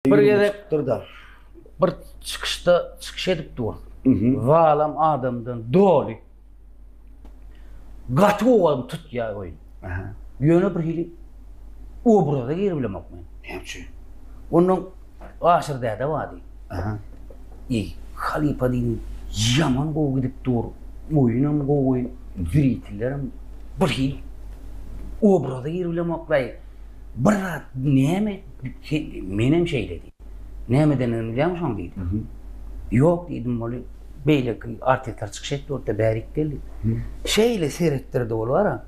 Bir gezek bir çykyşda çykyş edip dur. Zalam adamdan doly. Gaty owadan tutýar oýun. Ýöne bir hili obraza girip bilemok men. Näme üçin? Ondan Aşyr däde bardy. Aha. Ey, halypa diýin, ýaman gowy gidip dur. Oýunam gowy, zürýetlerim bir hil obraza girip bilemok. Bir zat näme? Menem şeýle diýdim. Nämedendigini bilýämisoň diýdim. Ýok diýdim, ol beýleki artistler çykyş etdi otda bärik gel diýdim. Şeýle seretdirdi ol bara,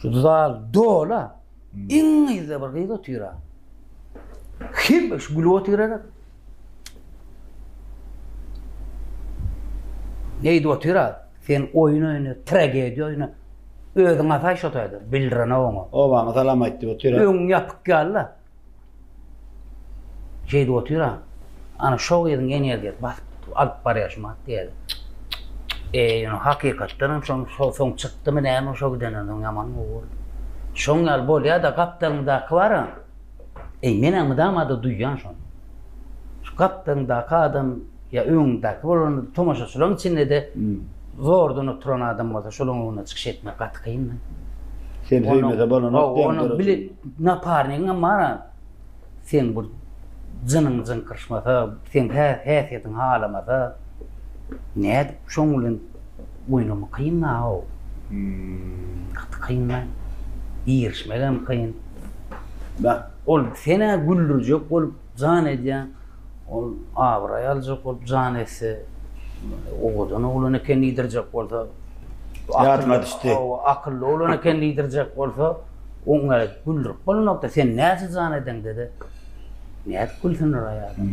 şu zal dola, iň yzda bir gyz otyra. Hemme şu gülüp otyra. Neýdip otyr a? Sen oýun oýna, tragediýa oýna. Özüň asaý şo taýda, bildirene oňa. Obaňa salam aýt diýip otyr a. Öňüň ýapyk ýaly-la. Şeýdip otyr a. Ana şo gyzyň energiýasy basyp alyp barýar şu makiýažy. E, ýöne hakykatdan hem şoň şo soň çykdymy näme şo gidenden soň ýaman gowy boldy. Şoň ýaly bolýa-da gapdalymdaky bar a. Eý, men-ä mydama-da duýýan şony. Şu gapdalyňdaky adam ýa öňüňdäki bolanda-da, tomaşaçylaryň içinde-de zordan oturan adam bolsa, şolaryň öňünde çykyş etmek gaty kyn-da. Sen söýmese bolanok diýen döredijilik. Onuň bile naparnigiňem bar-a. Seň bir jynyň jyňkyryşmasa, seň häsiýetiň halamasa, nädip şoň bilen Oýnamak kyn da ow. Gaty kyn da. Girişmegem kyn. Bak, ol senä güldürjek bolup jan edýän, ol abraý aljak bolup jan etse, owadan oglan eken diýdirjek bolsa, ýadyma düşdi. Hawa, akylly oglan eken diýdirjek bolsa, oňa güldürip bolmazok-da, sen näçe jan edeňde-de, nädip gülsündir aý adam.